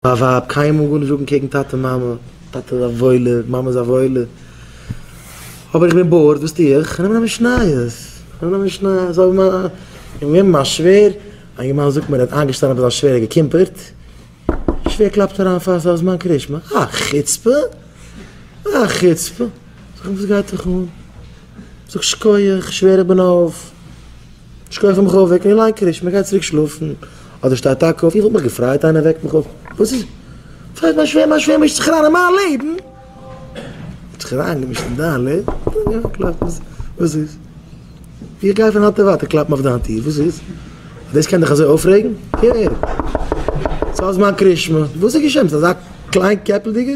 מיין ווייב, קיינמאל גארנישט זאגן קעגן טאטע מאמע, טאטע איז א וואוילע, מאמע איז א וואוילע, אבער איך בין באורד, וואס טו איך? איך נעם א משניות, איך נעם א משניות, אוי מיין, איך בין געבן א שווער, א יונגערמאן זאגט מיר ער האט איינגעשטאנען ביי זיין שווער און געקימפערט, די שווער קלאפט אריין פאר סוף זמן קרישמע, א חוצפה! א חוצפה! זאג איך וואס גייט דיך אן? זאג שקויעך, שווער איך בין אויף. שקויעך איך מיך אויף, וועק מיר ליין קרישמע, גיי צוריק שלאפן, אדער שטיי טאקע אויף, איך וואלט מיך געפרייט איינער וועקט מיך אויף, וואס איז? פרייט מיין שווער, מיין שווער מישט זיך אריין אין מיין לעבן! האט זיך אריין געמישט אין דיין לעבן? וואס איז? איך גיי פון היינט און ווייטער קלאפן אויף דיין טיר, וואס איז? דאס קען דיך אזוי אויפרעגן? קער! ס'איז מיין קרישמע, וואס איז געשען? ביסט אזא קליין קעפלדיגער?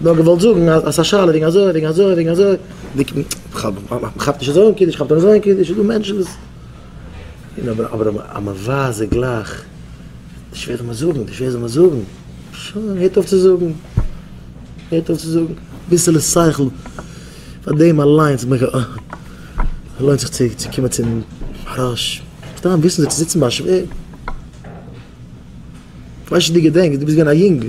נאר געוואלט זאגן אז ס'איז א שאלה וועגן אזוי, וועגן אזוי, וועגן אזוי, מ'כאפט נישט אזוי אן קידוש, מ'כאפט אן אזוי אן קידוש, ס'איז דא מענטשן וואס. אבער אז מ'ווייזט זיי גלייך, די שווער זאל מען זאגן, די שווער זאל מען זאגן, שוין, הערט אויף צו זאגן, הערט אויף צו זאגן, אביסעלע שכל, פאר דעם אליינס לוינט זיך צו קומען צום מהרש, סתם וויסן זיך צו זיצן ביי א שווער, כ'ווייס נישט צו דו געדענקסט, דו ביסט געווען א יונגל.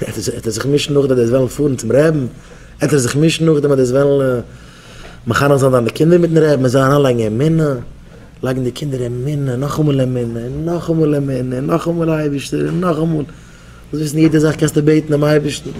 עט ער זיך מישן נאכדעם אז דאס וועלן פארן צום רעבן, עט ער זיך מישן נאכדעם אז דאס וועלן מחנך זיין דיינע קינדער מיטן רעבן, מען זאל אריין לייגן אמונה, לייגן די קינדער אמונה, נאכאמאל אמונה, און נאכאמאל אמונה, און נאכאמאל אייבערשטער, און נאכאמאל, זאלסט וויסן יעדע זאך קענסטו בעטן דעם אייבערשטן.